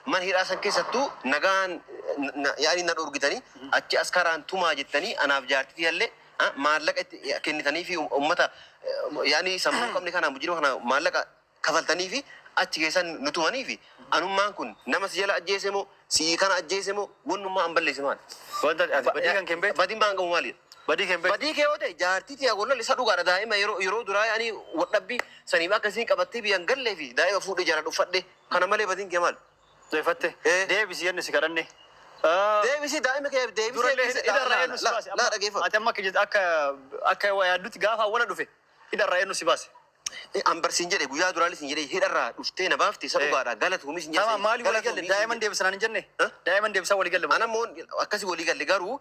man hidhaa san keessattu nagaan na- yaa'anii na dhorgitanii achi askaraan tumaa jettanii anaaf jaartii tiyallee ah, maallaqa itti kennitanii fi uummata eh, yaa'anii sammuu hin qabne kana mujirima kana maallaqa kafaltanii fi achi keessan nu tumanii fi anummaan kun nama si jala ajjeese moo si kana ajjeese moo wannummaa an balleesse maali? Wanta ati badii kan kennite? Badii maan qabu maali? Badii kan beektu. Badii kee yoo ta'e jaartii tiyaa wallan isa dhugaadha daa'ima yeroo yeroo duraa ani wadhabbii saniif akkasiin qabattee biyyan gallee fi daa'ima fuudhee jala dhuffadhe Kana malee badiin kee maal? Deeffatte? Ee. Deebisi jenne si kadhanne. Aa. Deebisi daa'ima kee deebisee Durallee dhiise. hidha irraa eenyu si Laa- baase? laa- laa dhageeffadhu. Ati amma akka jette akka akka waa yaaddutti gaafa awwala dhufe hidha irraa eenyu si baase? Ee, an bar siin jedhe guyyaa duraallee siin jedhe hidharraa dhuftee na baafte isa Ee. dhugaadha galatuumis hin Tama maaliif walii galle? Daa'iman deebisanaan hin jenne? Huh? Daa'iman deebisaa walii galle? Ana immoo akkasi walii galle garuu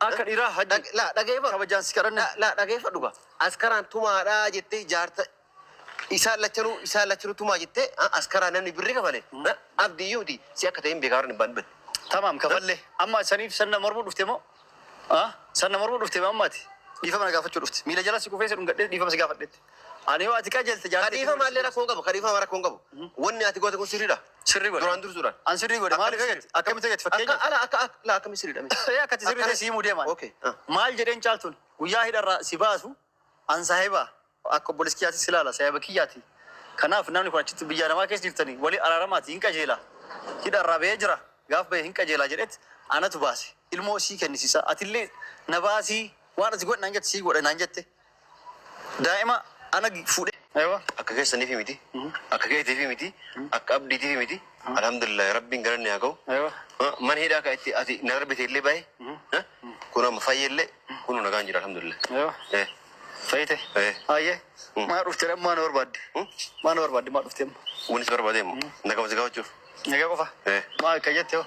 Akka dhiraa hajji. Dhag, laa, dhageefadhu. Kabajaan si kadhanne. Laa, laa, dhageefadhu gaa. Askaraan tumaadha jettee jaarta isaan lachanuu isaan lachanuu tumaa jettee ah, askaraa namni birri kafale ah, abdi iyyuu miti si akka ta'een beekaa warra dhibbaan dhibban. Tamaam kafallee. Amma saniif sanna mormuu dhufte moo? Ah, sanna mormuu dhufte moo ammaati? Dhiifama na gaafachuu dhufte. Miila jala si kufee si dhungadhee dhiifama si gaafadhetti. Ani yoo ati qajeelte jaartii. Kadhiifama illee rakkoo hin qabu kadhiifama rakkoo hin qabu wanni ati goote kun sirriidha. Sirri godhe. Duraan dursuudhaan. An sirrii godhe maaliif Akkamitti eeggatti? Akkamitti eeggatti Akka fakkeenya? ala akka akka laa akkamitti sirriidha mee? Ee akkati sirri Akkana- ta'e siimuu deeman. Okay, ah. Maal jedheen caaltuun guyyaa hidharraa si baasu an saahiba akka obboleessi kiyyaatti si ilaala saahiba kiyyaati. Kanaaf namni kun achitti biyya namaa keessa jirtanii walii araaramaati hin qajeela. Hidharraa ba'ee jira gaaf ba'e hin qajeela jedhetti anatu baase ilmoo sii kennisiisa atillee na baasii waan ati godhe naan jette sii godhe naan jette. Daa'ima ana fuudhee. Aywa akka keessaniifi miti akka keetiifi miti akka abdiitiifi miti alhamdulillahi rabbiin galanni haa gahu mana hidhaa ka itti ati na darbite illee bahe kun amma fayye illee kunu nagaan jira alhamdulillahi fayyite ayye maa dhufte dhammaa na barbaadde maa na barbaadde maa dhufte amma wani si barbaade immoo nagama si gafachuuf nagaa qofa maa akka jette hoo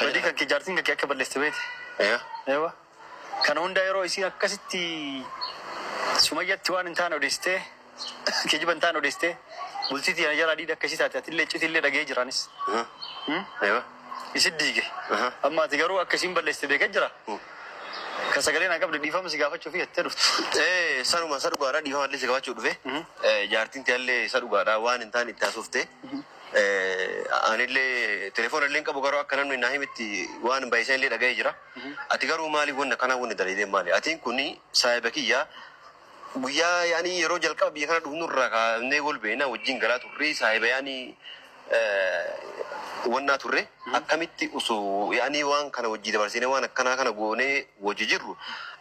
badii kan kee jaartiin kan kee akka balleessite beekte aywa Kana hunda yeroo isiin akkasitti sumayyatti waan hin taane odeessitee kijiba hin taane odeessitee bultii tiyya na jalaa diida akka isii taate atillee iccitillee dhaga'ee jira anis. Hmm? Ewa. Isin diige. Aha. Amma ati garuu akka isiin balleessite beekee jira. Kan sagalee naa qabde dhiifama si gaafachuu fi jettee dhuftu. Eh, sanuma isa dhugaadha dhiifama illee si gaafachuu dhufe. Mhm. Eh, Jaartiin tiyya illee isa dhugaadha waan hin taane itti haasofte. Eh, anillee telefoona illee hin qabu garuu akka namni naa himitti waan baay'isan illee dhaga'ee jira. Ati garuu maalif wanni akkanaa wanni dalaydeen maali? Atiin kuni saahiba kiyya guyyaa yaani yeroo jalqaba biyya kana dhufnu irraa kaafnee wal beeyna wajjin galaa turre saahiba yaani wannaa turre akkamitti osoo yaani waan kana wajjii dabarsinee waan akkanaa kana goonee wajji jirru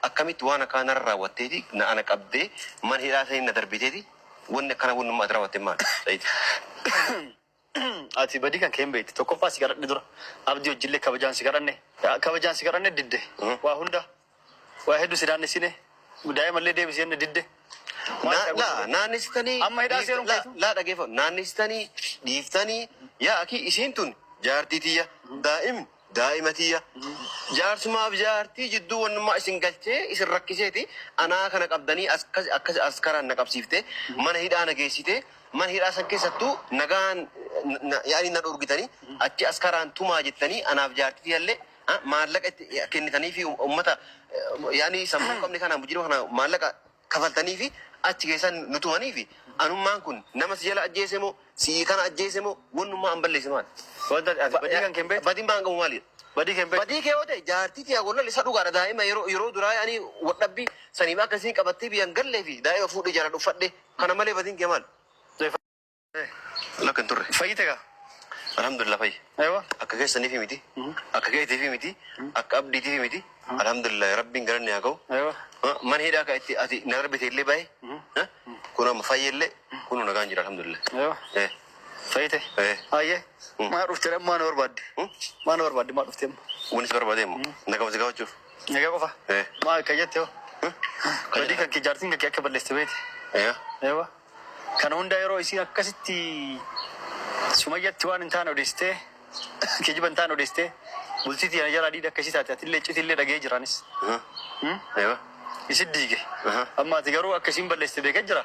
akkamitti waan akkanaa narra raawwatteeti na ana qabdee mana hidhaa sanii na darbiteeti wanni akkanaa wannummaa ati raawwatten maali? Said. Ati badii kan kee hin beektu. Tokkoffaa si kadhadhe dura. Abdii wajjillee kabajaan si kadhanne. Kabajaan si kadhanne didde. Waa hunda. Waa hedduu si naannessine. Daa'imallee deebisi jenne didde. Maal Na- ta'e? laa naannessitanii Amma hidhaa dhiif- seeruun laa- keessu? laa dhageeffa naannessitanii dhiiftanii yaa akii isiin tun jaartii tiyya daa'im Daa'ima tiyya, jaarsumaaf jaartii jidduu wannummaa isin galchee isin rakkiseeti anaa kana qabdanii akkasi akkasi askaraan na qabsiiftee mana hidhaa na geessitee mana hidhaa san keessattuu nagaan yaanii na dhorgitanii achi askaraan tumaa jettanii anaaf jaartii tiyyallee maallaqa itti kennitaniifi ummata yaanii sammuu hin qabne kana mujirima kana maallaqa kafaltaniifi achi keessan nu tumaniifi anummaan kun nama si jala ajjeese moo si'i kana ajjeese moo wannummaa an balleesse maali? Wanta ati badii kan kee hin beektu? Badin baan qabu maalidha? Badii kee hin beektu? Badii kee yoo ta'e jaartii tiyaa wallal isa dhugaadha daa'ima yeroo yeroo duraa ani wadhabbii saniif akka isiin qabattee biyyan galleefi daa'ima fuudhee jaladhu uffadhe kana malee badin kee maali? Lakka hin turre. Fayyite gaa. Alhamdulillah fayye. Ewa. Akka keessaniifi miti. Akka keetiifi miti. Akka abdiitiifi miti. Alhamdulillah rabbiin galanni haa ga'u. Ewa. Ma- Mana hidhaa ka itti ati na darbite illee bahe. Ha? Kun amma fayye illee kun nagaan jira alhamdulillah. Ewa. Eh. Fayyite. Eh. Ayyee. Mm. Maa dhufte dhammaa na barbaadde. Hmm? Maa na barbaadde maa dhufte amma. Wanis barbaadee immoo. Nagama si gaafachuuf. Nagaa qofa. Eh. Maa akka jette hoo. Hmm? Badii kan kee jaartiin kan kee akka balleessite beekte. Eh. Ewa. Kana hunda yeroo isiin akkasitti sumayyatti waan hin taane odeessitee kijiba hin taane odeessitee bultii tiyya na jalaa diida akka isii taate atillee iccitii illee dhaga'ee jira anis. Hmm? Ewa. Isin diige. Aha. Amma ati garuu akka isiin balleessite beekee jira.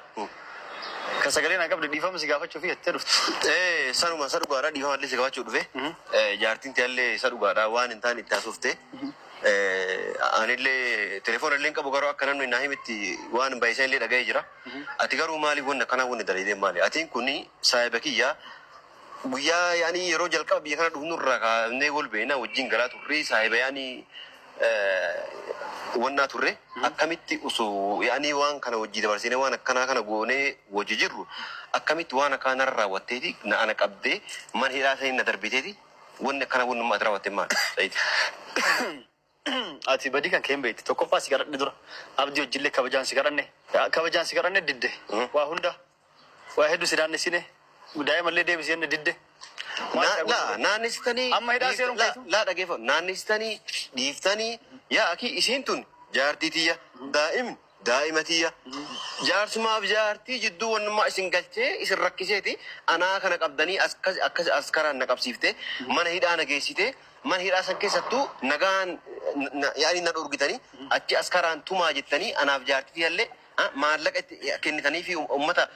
Kan sagalee naa qabde dhiifama si gaafachuu fi jettee dhufte. Eh, sanuma isa dhugaadha dhiifama illee si gaafachuu dhufe. Mhm. Eh, Jaartiin tiyya illee isa dhugaadha waan hin taane itti haasofte. Eh, anillee telefoona illee hin qabu garuu akka namni naa himitti waan baay'isan illee dhaga'ee jira. Ati garuu maalif wanni akkanaa wanni dalaydeen maali atiin kuni saahiba kiyya guyyaa yaani yeroo jalqaba biyya kana dhufnu irraa kaafnee wal beeyna wajjin galaa turree saahiba yaani wannaa turre akkamitti osoo yaani waan kana wajjii dabarsinee waan akkanaa kana goonee wajji jirru akkamitti waan akkanaa narra raawwatteeti na ana qabdee mana hidhaa sanii na darbiteeti wanni akkanaa wannummaa ati raawwatten maali Said. Ati badii kan kee hin beektu. Tokkoffaa si kadhadhe dura. Abdii wajjillee kabajaan si kadhanne. Kabajaan si kadhanne didde. Waa hunda. Waa hedduu si naannessine. Daa'imallee deebisi jenne didde. Maal Na- la ta'e? naannistanii Amma hidhaa dhiif- seeruun la- keessu? la dhageeffa naannistanii dhiiftanii yaa akii isiin tun jaartii tiyya daa'im Daa'ima tiyya, jaarsumaaf jaartii jidduu wannummaa isin galchee isin rakkiseeti anaa kana qabdanii akkas akkas askaraan na qabsiiftee mana hidhaa na geessitee mana hidhaa san keessattuu nagaan na yaani na dhorgitanii achi askaraan tumaa jettanii anaaf jaartii tiyyallee maallaqa itti kennitaniifi ummata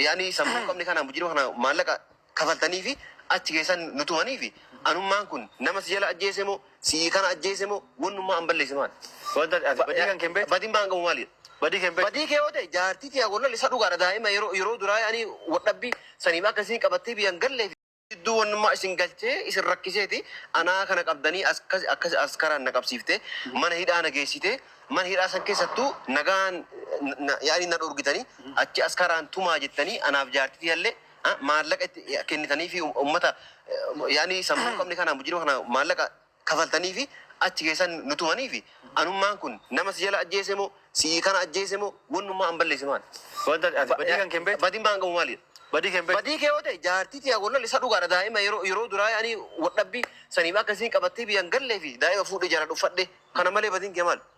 yaani sammuu hin qabne kana mujirima kana maallaqa kafaltaniifi achi keessan nu tumaniifi anummaan kun nama si jala ajjeese moo si'ii kana ajjeese moo wannummaa an balleesse maali? Wanta ati Ba- badii kan kee hin beektu. Badin baan qabu maali? Badii kee hin beektu. Badii kee yoo ta'e jaartii tiyaa golla lisa dhugaadha daa'ima yeroo yeroo duraa ani wadhabbii saniif akka isiin qabattee biyyan gallee fi gidduu wannummaa isin galchee isin rakkiseeti anaa kana qabdanii akkas akkas askaraan na qabsiiftee mana hidhaa na geessitee mana hidhaa san keessattuu nagaan na- yaa'anii na dhorgitanii achi askaraan tumaa jettanii anaaf jaartii tiyallee maallaqa itti kennitaniifi ummata yaani sammuu hin qabne kana mujirima kana maallaqa kafaltaniifi achi keessan nu tumaniifi anummaan kun nama si jala ajjeese moo si'ii kana ajjeese moo wannummaa an balleesse maali? Wanta ati Ba- badii kan kee hin beektu? Badii maan qabu maali? Badii kee hin beektu? Badii kee yoo ta'e jaartii tiyaa wallal isa dhugaadha daa'ima yeroo yeroo duraa ani wadhabbii saniif akka isiin qabattee biyyaan gallee fi daa'ima fuudhee jaaladhu uffadhe kana malee badiin kee maali?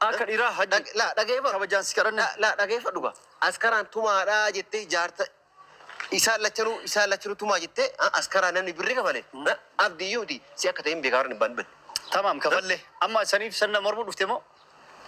Akka dhiraa hajji. Dhag- laa, dhageeffadhu. Kabajaan si kadhanne. Laa, laa, dhageeffadhu gaa. Askaraan tumaadha jettee jaarta isaan lachanuu isaan lachanuu tumaa jettee ah, askaraa namni birri kafale Ah, abdii iyyuu miti si akka ta'e hin beekaa warri hin beeku. Tamaam kafalle. Amma saniif sanna mormuu dhufte moo?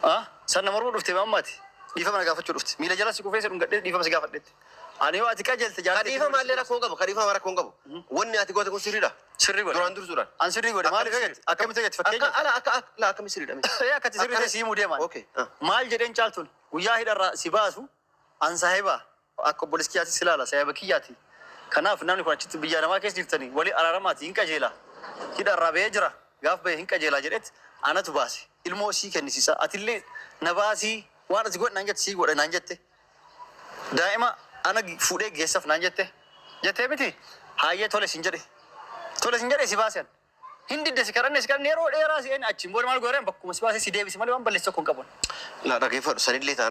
Ah, sanna mormuu dhufte moo ammaati? Dhiifama na gaafachuu dhufte. Miila jala si kufee si dhungadhee dhiifama si gaafadhetti. Ani yoo ati qajeelte jaartii. Kadhiifa maallee rakkoo hin qabu kadhiifa rakkoo hin qabu wanni ati goote kun sirriidha. Sirri godhe. Duraan dursuudhaan. An sirrii godhe maaliif Akkamitti eegatte? Akkamitti eegatte Akka fakkeenya? ala akka akka laa akkamitti sirriidha mee? Ee akkati sirrii Akkana- ta'e sii mudee maal? Okay, ah. Maal jedheen caaltuun guyyaa hidharraa si baasu an saahiba akka obboleessi kiyyaatti si ilaala saahiba kiyyaati. Kanaaf namni kun achitti biyya namaa keessa jirtanii walii araaramaati hin qajeela. Hidharraa bahee jira gaaf bahee hin qajeelaa jedhetti anatu baase ilmoo sii kennisiisa atillee na baasii waan ati godhe naan jette sii godhe naan jette. Daa'ima ana fuudhee geessaf naan jette jettee miti? Haayyee tole sin jedhe. Tole sin jedhee si baase an. Hin didde si kadhanne si kadhanne yeroo dheeraa si eegne achiin booda maal gooreen bakkuma si baasee si deebise malee waan balleesse tokko hin qabu an. Laa dhaggeeffadhu sanillee taanaan.